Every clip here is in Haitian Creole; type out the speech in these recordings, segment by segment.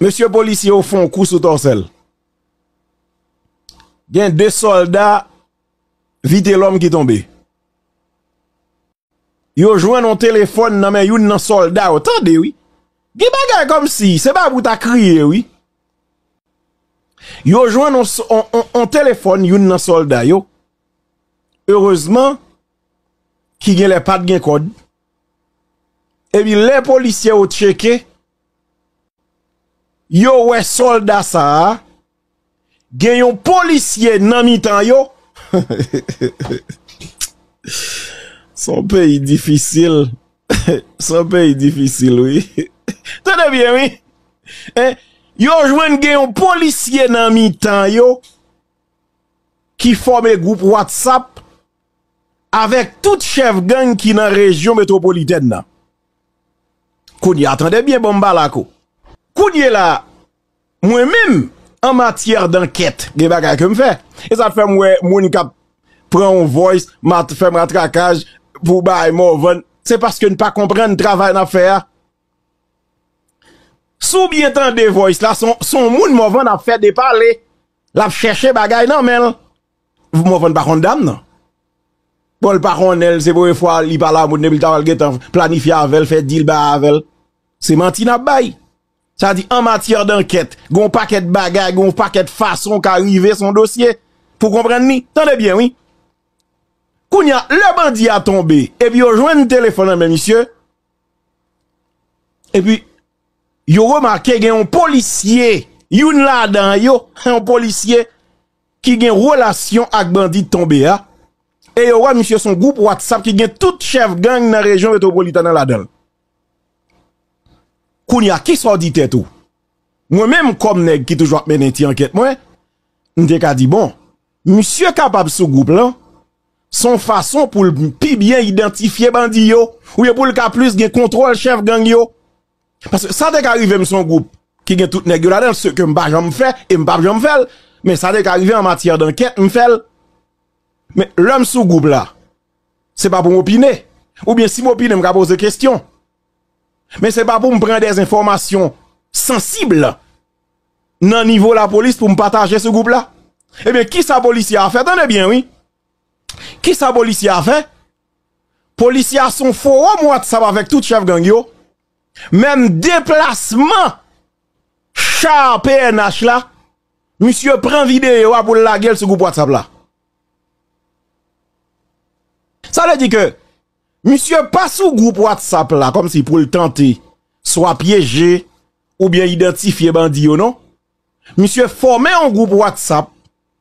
Mesye polisye yo fon kou sou tòsèl. Gen 2 solda vitelòm ki tonbe. Yo jwenn yon telefòn nan men youn nan solda yo. Tande wi. Gen bagay kom si. Se pa pou ta kriye wi. Yo jwenn yon telefòn youn nan solda yo. Erezman ki gen lè pat gen kòd. Ebi lè polisye yo tcheke. Yo wè solda sa a gen yon polisye nan mitan yo hehehehehehehe se yon peyi difisil se yon peyi difisil wi tande byen wi yo jwenn gen yon polisye nan mitan yo ki fòme gwoup watsap avèk tout chèf gang ki nan rejyon metwopolitèn nan. Kounye a tande byen bonm balak ou. Kounye la mwen menm an matyè dankèt gen bagay ke m fè. E sa fè m wè moun kap pran yon voice mat fè matrakaj pou bay Morvan se paske n pa konprann travay nap fè a. Si w byen tande voice la son moun Morvan ap fè depale lap chèche bagay nan menl. Pou mwen fon pa konn dam nan. Bon l pa konnen l se premye fwa li pale ak moun depi l ta wè l gentan planifye avè l fè dil bay avè l. Se manti nap bay. Sa di an matyè dankèt gon pakèt bagay gon pakèt fason ka rive son dosye pou konprann ni. Tande byen wi. Kounye a lè bandi a tonbe epi yo jwenn telefon nan men misye epi yo remake gen yon polisye youn ladan yo yon polisye ki gen relasyon ak bandi tonbe a, e yo wè misye son gwoup WhatsApp ki gen tout chèf gang nan rejyon Metropolitan an ladanl. Kounye a, kisa w di tèt ou? Mwen menm kòm nèg ki toujou ap mennen ti ankèt mwen, m te ka di bon, misye kapab sou gwoup lan, son fason poul pi byen idantifye bandi yo, oubyen poul ka plis gen kontwòl chèf gang yo. Paske sa te ka rive m son gwoup ki gen tout nèg yo ladan l, se ke m pa janm fè e m pap janm fè l, men sa te ka rive an matyè dankèt m fè l. Men lè m sou gwoup la, se pa pou m opine, oubyen si m opine m ka poze kestyon, men se pa pou m pran dè enfòmasyon sansib nan nivo lapolis pou m pataje sou gwoup la. Ebyen kisa polisye a fè, tande byen wi, kisa polisye a fè Polisye a son forom whatsapp avek tout chef gang yo, menm deplasman char pnh la misye pran video a poul lagel sou group whatsapp la. Sa vle di ke misye pa sou group whatsapp la kom si poul tante swa pyeje ou byen identifye bandi yo non. Misye fome yon group whatsapp,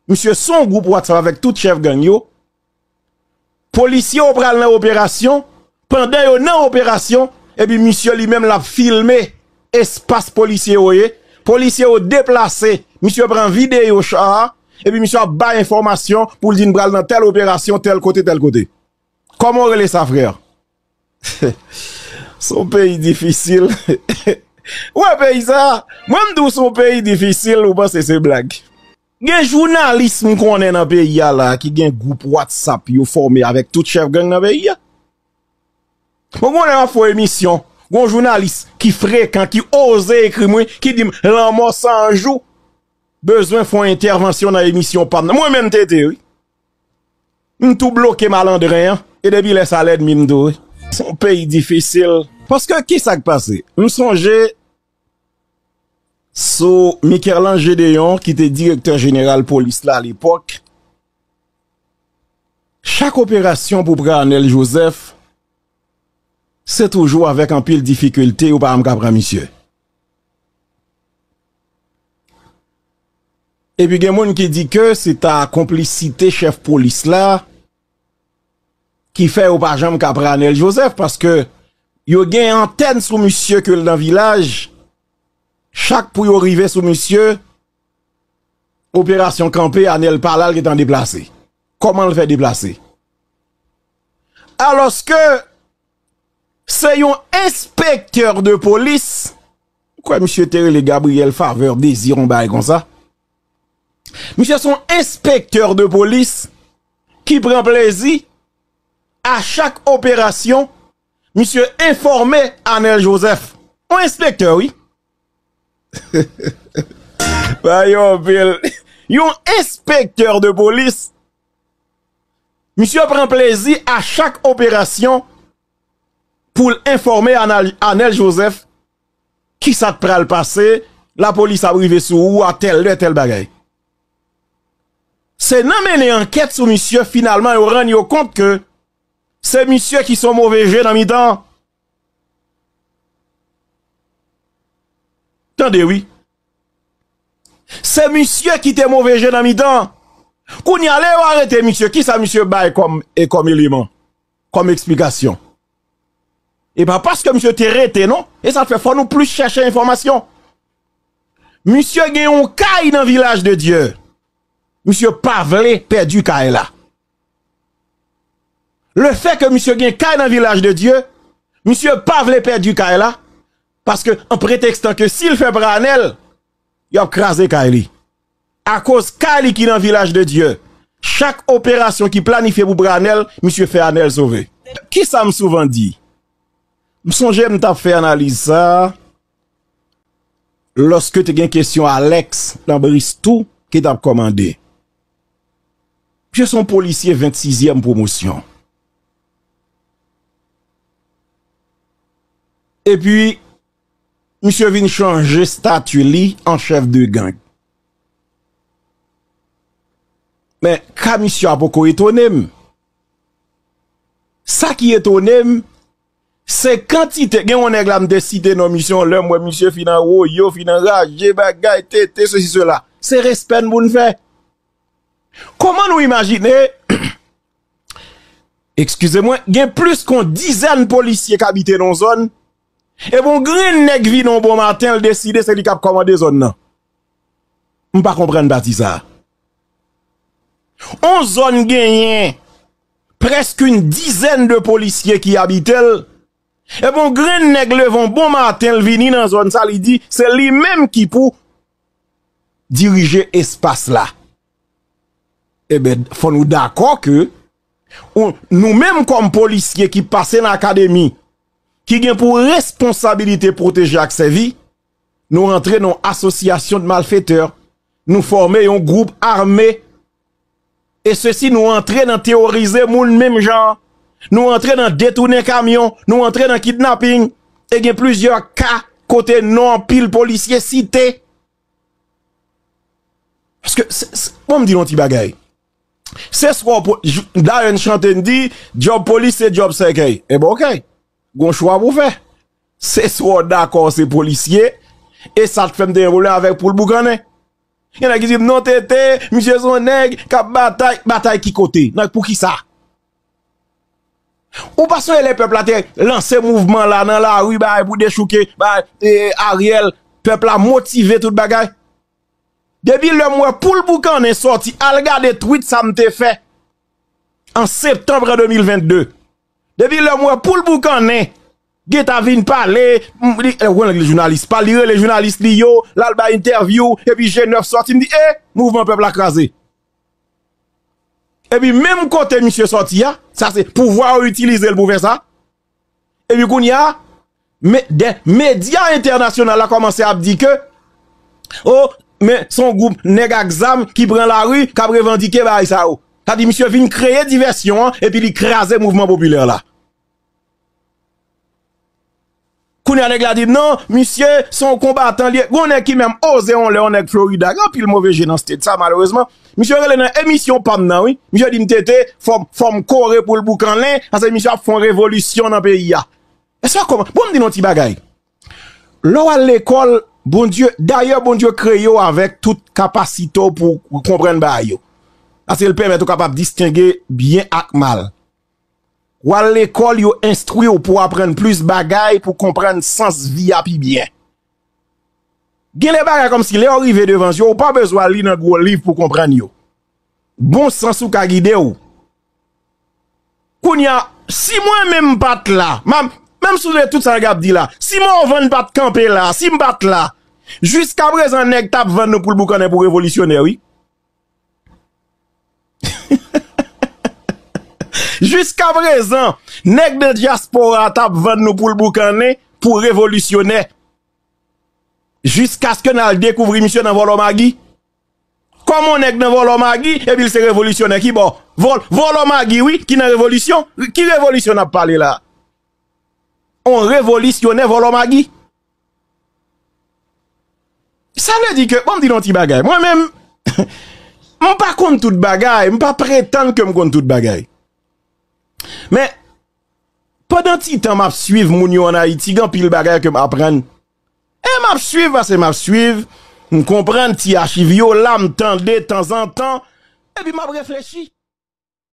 misye son group whatsapp avek tout chef gang yo. Polisye yo pral nan operasyon, pandan yo nan operasyon, epi misye li menm l ap filme espas polisye yo ye, polisye yo deplase, misye pran videyo cha a, epi misye ap bay enfòmasyon pou l di n pral nan tèl operasyon, tèl kote, tèl kote. Kòman w rele sa frè? Son peyi difisil Ou wè peyi sa Mwen m di w son peyi difisil ou panse se blag Gen jounalis m konnen nan peyi a la ki gen gwoup watsap yo fòme avèk tout chèf gang nan peyi a Mwen konnen wap fè emisyon Gon jounalis ki frekan ki oze ekri mwen ki di m lanmò 100 jou bezwen fon entèvansyon nan emisyon pa m nan Mwen menm TT wi M tou bloke malandren an e depi lè sa l ènmi m tou wi. S on peyi difisil. Paske ki sa k pase? M sonje sou Mikerlan Jedeyon ki te direktè jeneral polis la alepòk, chak operasyon pou pran Anèl Jozèf se toujou avèk anpil difikilte yo pa janm ka pran misye. Epi gen moun ki di ke se ta konplisite chèf polis la ki fè yo pa janm ka pran Anel Joseph paske yo gen antèn sou misye ke l nan vilaj chak pou yo rive sou misye operasyon kanpe Anel pa la l gen tan deplase kòman l fè deplase alòske se yon enspektè de polis M kwè misye te rele Gabriel Faveur Désir yon bagay konsa. Misye son enspektè de polis ki pran plezi a chak operasyon misye enfòme Anel Joseph. Yon enspektè wi. Bagay yo anpil. Yon enspektè de polis misye pran plezi a chak operasyon. pou l enfòme Anèl Joseph ki sa k pral pase, lapolis ap rive sou ou a tèl lè, tèl bagay. Se nan mennen ankèt sou misye finalman yo rann yo kont ke se misye ki son move je nan mitan an. Tande wi. Se misye ki te move je nan mitan an. Kounye a lè yo arete misye, ki sa misye bay kòm eleman? kòm eksplikasyon. E pa paske misye te rete non, e sa fè fò nou plis chèche enfòmasyon. Misye gen yon kay nan vilaj de Dye, misye pa vle pèdi kay la. Le fè ke misye gen kay nan vilaj de Dye, misye pa vle pèdi kay la, paske an pretekstan ke si l fè pranèl, y ap kraze kay li. Akoz ka li ki nan vilaj de Dye. Chak operasyon ki planifye pou pre anèl, misye fè anèl sove. Kisa m souvan di? M sonje m t ap fè analiz sa a lòske te gen kesyon Alex nan Bristou ki t ap kòmande. Misye se yon polisye ventsizyèm pwomosyon. Epi Misye vin chanje stati li an chèf de gang. Men, ka misye a poko etone m. Sa ki etone m, se kantite, gen yon nèg la m te site non misye yon lè, m wè misye fin anwoye, fin anraje, bagay, tete, se si se la. Se respè n pou n fè. Kouman nou imajine, ekskize mwen, gen plis kon dizèn polisye k abite nan zòn, Epi yon grenn nèg vini yon bon maten l deside se li k ap kòmande zòn nan. M pa konprann pati sa a. Yon zòn genyen prèske yon dizèn de polisye ki abite l, epi yon grenn nèg leve yon bon maten l vini nan zòn sa a li di se li menm ki pou dirije espas la. Enben fò nou dakò ke nou menm kòm polisye ki pase nan akademi ki gen pou responsabilite pwoteje ak sèvi, nou rantre nan yon asosyasyon de malfetè, nou fòme yon gwoup ame, e se si nou rantre nan teorize moun menm jan, nou rantre nan detounen kamyon, nou rantre nan kidnapping, e gen plizyè ka kote non anpil polisye site. Bon m di yon ti bagay. Se swa w Dayèn chante n di djòb polis se djòb sèkèy Enben ok Gon chwa pou w fè Se swa w dakò w se polisye E sa t fè m te gen pwoblèm avèk pou l boukannen Gen nèg ki di m non TT Misye s on nèg k ap batay Batay ki kote? Nan pou ki sa? Ou pa sonje lè pèp la te lanse mouvman la nan lari bagay pou dechouke bagay Ariel Pèp la motive tout bagay Depi lèm wè poul boukannen sòti al gade tweet sa m te fè an septanm 2022. Depi lèm wè poul boukannen gen ta vin pale li rele jounalis pa li rele jounalis li yo la l bay entèvyou epi je 9 sòti m di e mouvman pèp la kraze. Epi menm kote misye sòti a sa se pouvwa yo itilize l pou fè sa. Epi kounye a, medya entènasyonal la kòmanse ap di ke, o, men son gwoup nèg ak zam ki pran lari, k ap revandike bagay sa yo. Sa di misye vin kreye divèsyon an epi li kraze mouvman popilè la. Kounye a nèg la di non, misye son konbatan li ye. Gon nèg ki menm oze yon lè, yon nèg Florida, gen anpil move je nan state sa malerezman. Misye rele nan emisyon pam nan wi, misye dim TT fòm kore poul boukannen pase misye ap fon revolisyon nan peyi a. Eswa kòman, bon m di nou yon ti bagay. Lè w al lekòl, Bondye, dayè Bondye kreye w avèk tout kapasite w pou w konprann bagay yo. Pase l pèmèt ou kapab distenge byen ak mal. W al lekòl yo enstwi w pou w aprann plis bagay pou w konprann sans vi a pi byen. Genlè bagay kòmsi lèw rive devan yo ou pa bezwen li nan gwo liv pou konprann yo. Bon sans ou ka gidew. Kounya si mwen menm m pat la, menm sou de tout sa nèg ap di la, si Morvan pat kanpe la, si m pat la, jiskaprezan nèg tap vann nou poul boukannen pou revolisyonè wi. Jiska prezan, nèg de dyaspora a t ap vann nou poul boukannen pou revolisyonè. Jiskaske n al dekouvri misye nan vòlò magi. Kòman yon nèg nan vòlò magi epi l se revolisyonè? Ki bò? Vòlò magi wi ki nan revolisyon? Ki revolisyon n ap pale la? Yon revolisyonè vòlò magi? Sa vle di ke, bon m di nou ti bagay, mwen menm, m pa konn tout bagay, m pa pretann ke m konn tout bagay. Men, pandan ti tan m ap swiv moun yo an Ayiti, gen anpil bagay ke m aprann. E m ap swiv, pase m ap swiv, m konprann ti achiv yo la, m tande tanzantan, epi m ap reflechi.